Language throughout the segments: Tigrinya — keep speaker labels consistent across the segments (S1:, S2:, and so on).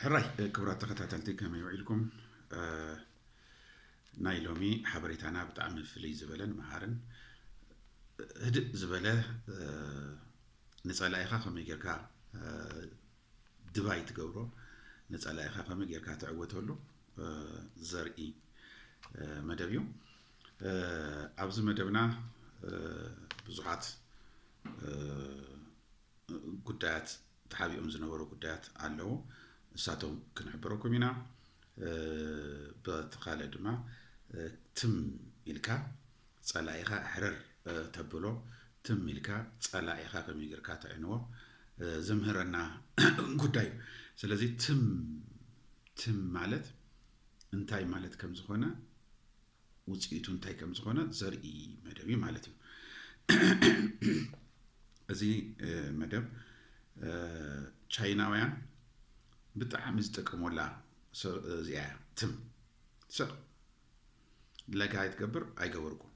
S1: ሕራይ ክብራት ተኸታተልቲ ከመይ ውዒልኩም ናይ ሎሚ ሓበሬታና ብጣዕሚ ፍልይ ዝበለን መሃርን ህድእ ዝበለ ንፀላኢኻ ከመይ ጌርካ ድባይ ትገብሮ ንፀላኢኻ ከመይ ጌርካ ትዕወተሉ ዘርኢ መደብ እዩ ኣብዚ መደብና ብዙሓት ጉዳያት ተሓቢኦም ዝነበሩ ጉዳያት ኣለዉ እሳቶም ክንሕብረኩም ኢና ብተካለ ድማ ትም ኢልካ ጸላኢኻ ሕርር ተብሎ ትም ኢልካ ጸላኢኻ ከመይ ጌርካ ተዕንዎ ዘምህረና ጉዳይ እዩ ስለዚ ትም ትም ማለት እንታይ ማለት ከም ዝኾነ ውፅኢቱ እንታይ ከም ዝኾነ ዘርኢ መደብ እዩ ማለት እዩ እዚ መደብ ቻይናውያን ብጣዕሚ ዝጠቀመላ እዚኣ ትም ሰብ ለጋ ይትገብር ኣይገበርኩም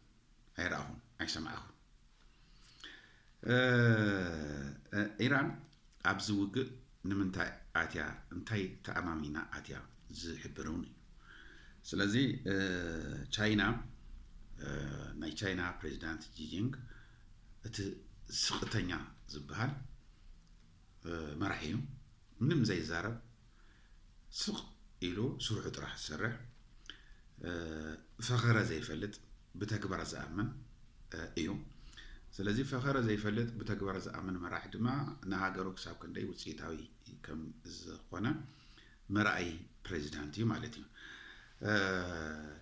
S1: ኣይረኣኹም ኣይሰማዕኹም ኢራን ኣብዚ ውግእ ንምንታይ ኣትያ እንታይ ተኣማሚና ኣትያ ዝሕብር እውን እዩ ስለዚ ቻይና ናይ ቻይና ፕሬዚዳንት ጂጂንግ እቲ ስቕተኛ ዝበሃል መራሒ እዩ ምንም ዘይዛረብ ስቕ ኢሉ ስርሑ ጥራሕ ዝሰርሕ፣ ፈኸረ ዘይፈልጥ ብተግባር ዝኣምን እዩ። ስለዚ ፈኸረ ዘይፈልጥ ብተግባር ዝኣምን መራሒ ድማ ንሃገሩ ክሳብ ክንደይ ውፅኢታዊ ከም ዝኾነ መርኣዪ ፕሬዚዳንት እዩ ማለት እዩ።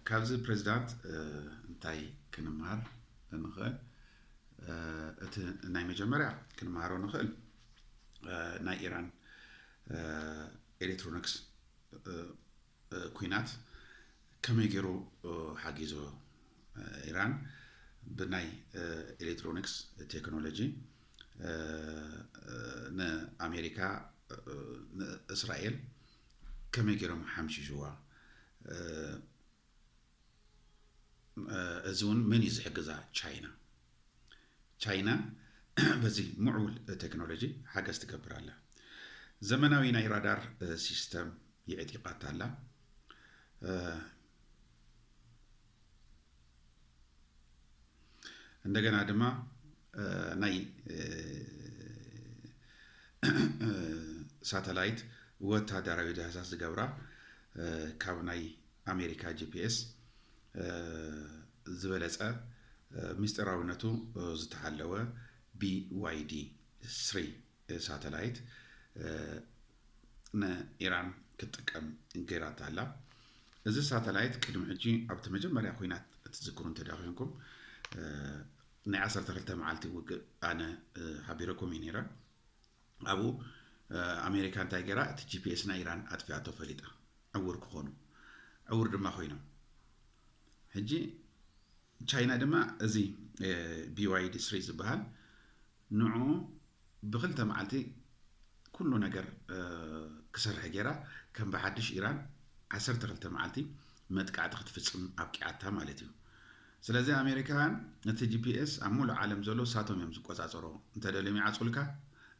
S1: ካብዚ ፕሬዚዳንት እንታይ ክንምሃር ንኽእል? እቲ ናይ መጀመርያ ክንምሃሮ ንኽእል ናይ ኢራን ኤሌክትሮኒክስ ኩናት ከመይ ገይሩ ሓጊዞ ኢራን ብናይ ኤሌክትሮኒክስ ቴክኖሎጂ ንኣሜሪካ ንእስራኤል ከመይ ገይሮም ሓምሽሽዋ እዚ እውን መን እዩ ዝሕግዛ ቻይና ቻይና በዚ ምዕቡል ቴክኖሎጂ ሓገዝ ትገብር ኣላ ዘመናዊ ናይ ራዳር ሲስተም የዕጢቃታ ኣላ እንደገና ድማ ናይ ሳተላይት ወታደራዊ ዳህሳስ ዝገብራ ካብ ናይ ኣሜሪካ ጂፒኤስ ዝበለፀ ምስጢራዊነቱ ዝተሓለወ ቢዋይዲ ስሪ ሳተላይት ንኢራን ክትጥቀም ገይራታ ኣላ እዚ ሳተላይት ቅድሚ ሕጂ ኣብቲ መጀመርያ ኩናት እትዝክሩ እንተዳ ኮንኩም ናይ 12 መዓልቲ ውግእ ኣነ ሓቢረኩም እዩ ነይረ ኣብኡ ኣሜሪካ እንታይ ገይራ እቲ ጂፒኤስ ናይ ኢራን ኣጥፊኣቶ ፈሊጣ ዕውር ክኾኑ ዕውር ድማ ኮይኖም ሕጂ ቻይና ድማ እዚ ቢዋይዲ ስሪ ዝበሃል ንዑ ብክልተ መዓልቲ ኩሉ ነገር ክሰርሐ ገይራ ከም ብሓድሽ ኢራን ዓሰርተ ክልተ መዓልቲ መጥቃዕቲ ክትፍፅም ኣብቂዓታ ማለት እዩ ስለዚ ኣሜሪካውያን ነቲ ጂፒኤስ ኣብ ሙሉእ ዓለም ዘሎ ንሳቶም እዮም ዝቆጻጸርዎ እንተደልዮም ይዓጽውልካ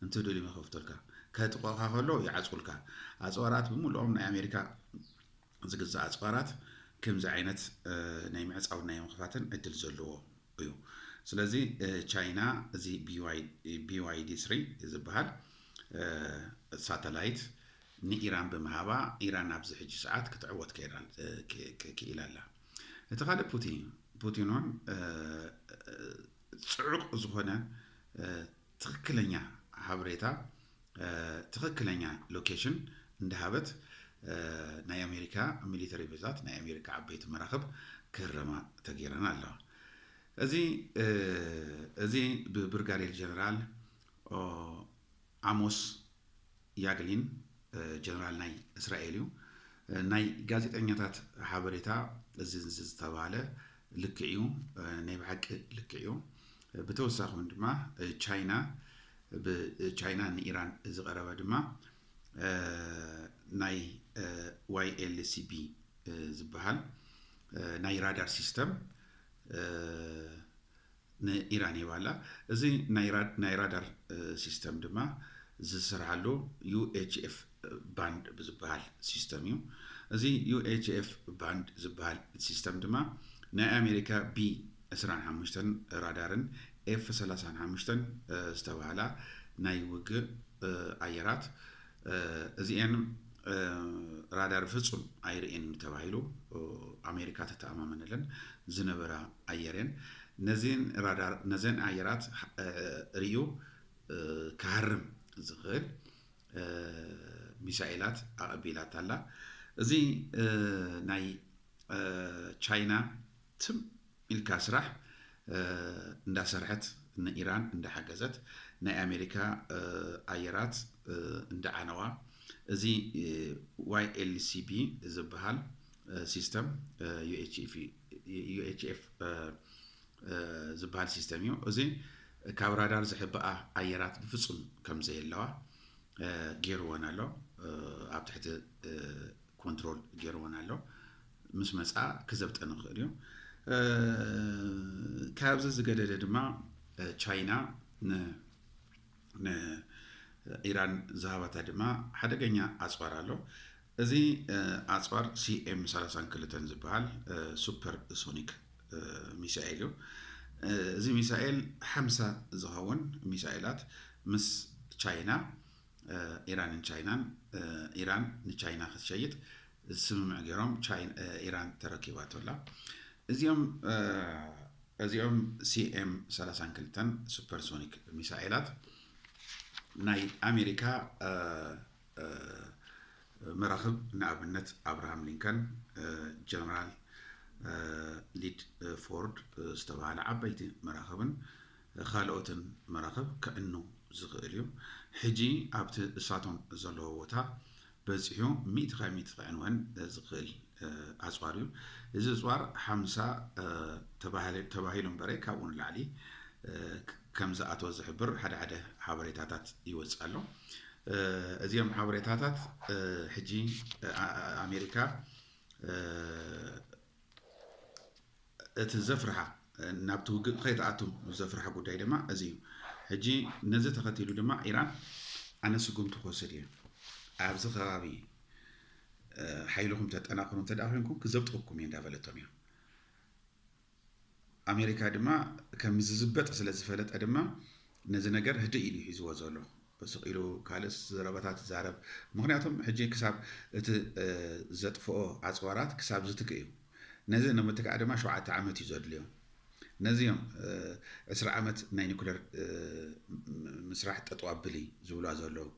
S1: እንትደልዮም ይኸፍቱልካ ከጥቅዑኻ ከለዉ ይዓጽውልካ ኣጽዋራት ብሙሉኦም ናይ ኣሜሪካ ዝግዛእ ኣጽዋራት ክምዚ ዓይነት ናይ ምዕጻውን ናይ ምኽፋትን ዕድል ዘለዎ እዩ ስለዚ ቻይና እዚ ቢዋይዲ ስሪ ዝበሃል ሳተላይት ንኢራን ብምሃባ ኢራን ኣብዚ ሕጂ ሰዓት ክትዕወት ክኢላ ኣላ እቲ ካልእ ፑቲ ፑቲን ውን ጽዑቕ ዝኾነ ትኽክለኛ ሓበሬታ ትኽክለኛ ሎኬሽን እንዳሃበት ናይ ኣሜሪካ ሚሊተሪ ቤዛት ናይ ኣሜሪካ ዓበይቲ መራኽብ ክህረማ ተገይረን ኣለዋ እዚ እዚ ብብርጋዴር ጀነራል ዓሞስ ያግሊን ጀነራል ናይ እስራኤል እዩ። ናይ ጋዜጠኛታት ሓበሬታ እዚ ዝተባህለ ልክዕ እዩ፣ ናይ ብሓቂ ልክዕ እዩ። ብተወሳኺ እውን ድማ ቻይና ብቻይና ንኢራን ዝቐረበ ድማ ናይ ዋይኤልሲቢ ዝበሃል ናይ ራዳር ሲስተም ንኢራን ሂባ ኣላ። እዚ ናይ ራዳር ሲስተም ድማ ዝስርሓሉ ዩኤችኤፍ ባንድ ብዝበሃል ሲስተም እዩ። እዚ ዩኤችኤፍ ባንድ ዝበሃል ሲስተም ድማ ናይ ኣሜሪካ ቢ ዕስራን ሓሙሽተን ራዳርን ኤፍ ሰላሳን ሓሙሽተን ዝተበሃላ ናይ ውግእ ኣየራት እዚኤን ራዳር ፍጹም ኣይርእየን እዩ ተባሂሉ ኣሜሪካ ተተኣማመነለን ዝነበራ ኣየር እየን ነዚን ራዳር ነዘን ኣየራት ርእዩ ክሃርም ዝኽእል ሚሳኤላት ኣቐቢላታላ እዚ ናይ ቻይና ትም ኢልካ ስራሕ እንዳሰርሐት ንኢራን እንዳሓገዘት ናይ ኣሜሪካ ኣየራት እንዳዓነዋ እዚ YLCB ዝብሃል ሲስተም UHF ዝብሃል ሲስተም እዩ እዚ ካብ ራዳር ዝሕብኣ ኣየራት ብፍጹም ከም ዘየለዋ ገይርወን ኣሎ ኣብ ትሕቲ ኮንትሮል ገይርወን ኣሎ ምስ መጽኣ ክዘብጠ ንኽእል እዩ። ካብዚ ዝገደደ ድማ ቻይና ንኢራን ዝሃባታ ድማ ሓደገኛ ኣጽዋር ኣሎ። እዚ ኣጽዋር ሲኤም ሰላሳን ክልተን ዝበሃል ሱፐር ሶኒክ ሚሳኤል እዩ። እዚ ሚሳኤል ሓምሳ ዝኸውን ሚሳኤላት ምስ ቻይና ኢራንን ቻይናን ኢራን ንቻይና ክትሸይጥ ስምምዕ ገይሮም ኢራን ተረኪባቶ ኣላ እዚኦም እዚኦም ሲኤም 32 ሱፐርሶኒክ ሚሳኤላት ናይ ኣሜሪካ መራኽብ ንኣብነት ኣብርሃም ሊንከን ጀነራል ሊድ ፎርድ ዝተባሃለ ዓበይቲ መራኽብን ኻልኦትን መራኽብ ከዕኑ ዝኽእል እዩ። ሕጂ ኣብቲ እሳቶም ዘለዎ ቦታ በጺሑ ሚእቲ ካብ ሚእቲ ክዕንወን ዝኽእል ኣጽዋር እዩ። እዚ እጽዋር ሓምሳ ተባሂሉ እምበረ ካብኡ ንላዕሊ ከም ዝኣተወ ዝሕብር ሓደ ሓደ ሓበሬታታት ይወጽእ ኣሎ። እዚኦም ሓበሬታታት ሕጂ ኣሜሪካ እቲ ዘፍርሓ ናብቲ ውግእ ከይትኣቱ ዘፍርሓ ጉዳይ ድማ እዚ እዩ። ሕጂ ነዚ ተኸቲሉ ድማ ኢራን ኣነ ስጉምቲ ክወስድ እየ፣ ኣብዚ ከባቢ ሓይልኹም ተጠናኽሩ እንተ ኮይንኩም ክዘብጠኩም እየ እንዳበለቶም እያ። ኣሜሪካ ድማ ከም ዝዝበጥ ስለ ዝፈለጠ ድማ ነዚ ነገር ህድእ ኢሉ ሒዝዎ ዘሎ። ስቕ ኢሉ ካልእ ዘረባታት ይዛረብ ምኽንያቱም ሕጂ ክሳብ እቲ ዘጥፍኦ ኣጽዋራት ክሳብ ዝትክእ እዩ ነዚ ንምትካእ ድማ ሸውዓተ ዓመት እዩ ዘድልዮ ነዚ እዮም ዕስራ ዓመት ናይ ኒኩለር ምስራሕ ጠጠው ኣብሊ ዝብልዋ ዘለዉ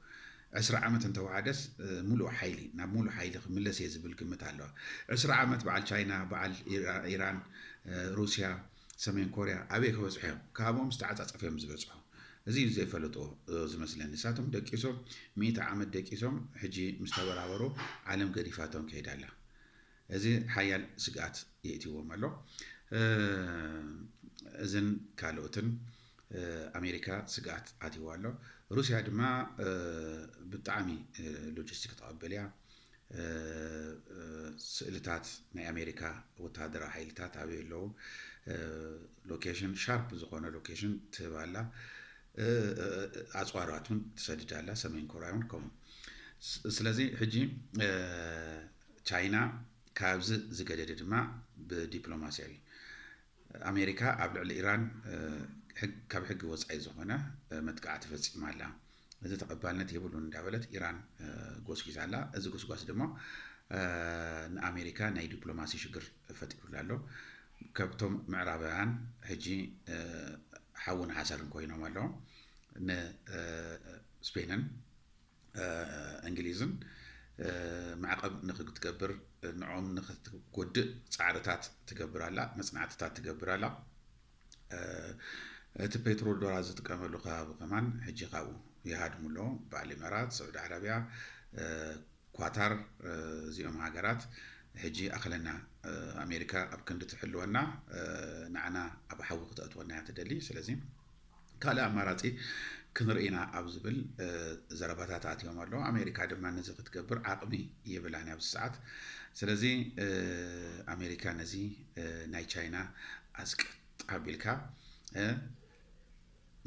S1: ዕስራ ዓመት እንተወሓደስ ሙሉእ ሓይሊ ናብ ሙሉእ ሓይሊ ክምለስ እየ ዝብል ግምት ኣለዋ ዕስራ ዓመት በዓል ቻይና በዓል ኢራን ሩስያ ሰሜን ኮርያ ኣበይ ክበጽሑ እዮም ካብኦም ዝተዓጻጸፈ እዮም ዝበጽሑ እዚ እዩ ዘይፈለጥዎ ዝመስለኒ ንሳቶም ደቂሶም ሚእቲ ዓመት ደቂሶም ሕጂ ምስ ተበራበሩ ዓለም ገዲፋቶም ከይዳ ኣላ እዚ ሓያል ስግኣት የእትዎም ኣሎ እዝን ካልኦትን ኣሜሪካ ስግኣት ኣትይዎ ኣሎ ሩስያ ድማ ብጣዕሚ ሎጂስቲክ ተቐበል እያ ስእልታት ናይ ኣሜሪካ ወተሃደራዊ ሓይልታት ኣበይ ኣለዉ ሎኬሽን ሻርፕ ዝኾነ ሎኬሽን ትህብ ኣላ ኣፅዋራት እውን ትሰድድ ኣላ ሰሜን ኮርያ እውን ከምኡ ስለዚ ሕጂ ቻይና ካብዚ ዝገደደ ድማ ብዲፕሎማሲያዊ ኣሜሪካ ኣብ ልዕሊ ኢራን ካብ ሕጊ ወፃኢ ዝኾነ መጥቃዕቲ ፈፂማ ኣላ፣ እዚ ተቐባልነት የብሉን እንዳበለት ኢራን ጎስጒሳ ኣላ። እዚ ጎስጓስ ድማ ንኣሜሪካ ናይ ዲፕሎማሲ ሽግር ፈጢሩላ ኣሎ። ከብቶም ምዕራባውያን ሕጂ ሓውን ሓሰርን ኮይኖም ኣለዉ። ንስፔንን እንግሊዝን ማዕቐብ ንክትገብር ንዖም ንክትጎድእ ፃዕርታት ትገብር ኣላ፣ መፅናዕትታት ትገብር ኣላ። እቲ ፔትሮ ዶላር ዝጥቀመሉ ከባቢ ከማን ሕጂ ካብኡ ይሃድሙ ኣሎ። በዓል ኢመራት፣ ስዑዲ ዓረብያ፣ ኳታር እዚኦም ሃገራት ሕጂ ኣኸለና ኣሜሪካ ኣብ ክንዲ ትሕልወና ንዓና ኣብ ሓዊ ክተእትወና እያ ትደሊ ስለዚ ካልእ ኣማራጺ ክንርኢ ኢና ኣብ ዝብል ዘረባታት ኣትዮም ኣለዉ። ኣሜሪካ ድማ ነዚ ክትገብር ዓቕሚ የብላን ኣብዚ ሰዓት። ስለዚ ኣሜሪካ ነዚ ናይ ቻይና ኣስቀጥ ኣቢልካ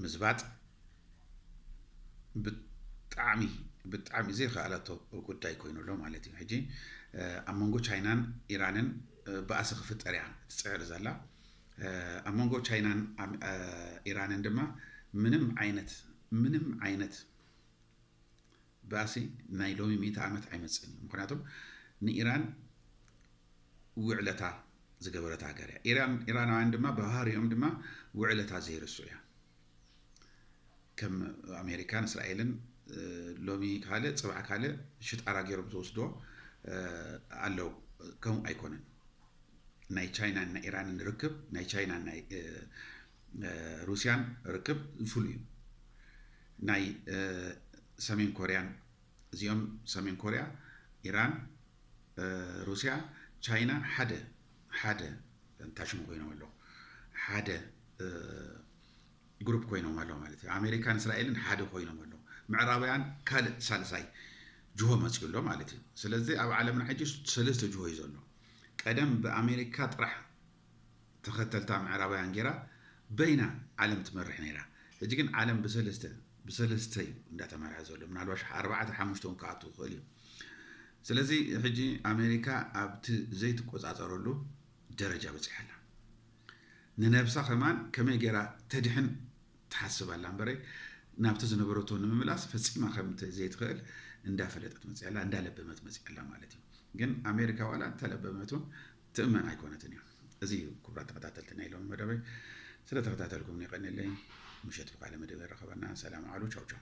S1: ምዝባጥ ብጣዕሚ ብጣዕሚ ዘይከኣለቶ ጉዳይ ኮይኑ ኣሎ ማለት እዩ ሕጂ ኣብ መንጎ ቻይናን ኢራንን ባእሲ ክፍጠር እያ ትፅዕር ዘላ ኣብ መንጎ ቻይናን ኢራንን ድማ ምንም ዓይነት ምንም ዓይነት ባእሲ ናይ ሎሚ ሚእቲ ዓመት ኣይመፅእን እዩ። ምክንያቱም ንኢራን ውዕለታ ዝገበረት ሃገር እያ። ኢራናውያን ድማ ብባህሪኦም ድማ ውዕለታ ዘይርስዑ እያ። ከም ኣሜሪካን እስራኤልን ሎሚ ካልእ ፅባሕ ካልእ ሽጣራ ገይሮም ዝወስድዎ ኣለው ከምኡ ኣይኮነን ናይ ቻይናን ናይ ኢራንን ርክብ ናይ ቻይናን ናይ ሩስያን ርክብ ፍሉይ እዩ ናይ ሰሜን ኮርያን እዚኦም ሰሜን ኮርያ ኢራን ሩስያ ቻይና ሓደ ሓደ እንታይ ሽሙ ኮይኖም ኣለዉ ሓደ ግሩፕ ኮይኖም ኣለዉ ማለት እዩ ኣሜሪካን እስራኤልን ሓደ ኮይኖም ኣለዉ ምዕራባውያን ካልእ ሳልሳይ ጅሆ መፅኡ ኣሎ ማለት እዩ ስለዚ ኣብ ዓለምና ሕጂ ሰለስተ ጅሆ እዩ ዘሎ ቀደም ብኣሜሪካ ጥራሕ ተኸተልታ ምዕራባውያን ጌራ በይና ዓለም ትመርሕ ነይራ ሕጂ ግን ዓለም ብሰለስተ ብሰለስተ እዩ እንዳተመርሐ ዘሎ ምናልባሽ ኣርባዕተ ሓሙሽተ ውን ክኣቱ ይኽእል እዩ ስለዚ ሕጂ ኣሜሪካ ኣብቲ ዘይትቆጻጸረሉ ደረጃ በጺሓ ኣላ ንነብሳ ከማን ከመይ ጌራ ተድሕን ትሓስብ ኣላ እምበረይ ናብቲ ዝነበረቶ ንምምላስ ፈጺማ ከም ዘይትኽእል እንዳፈለጠት መጽያ ኣላ እንዳለበመት መጽያ ኣላ ማለት እዩ ግን ኣሜሪካ ዋላ እንተለበመት ውን ትእመን ኣይኮነትን እያ። እዚ እዩ ክቡራት ተኸታተልቲ ናይ ሎሚ መደበይ። ስለ ተኸታተልኩምኒ የቐንየለይ። ምሸት ብካልእ መደብ የራኽበና። ሰላም ኣዕሉ። ቻው ቻው።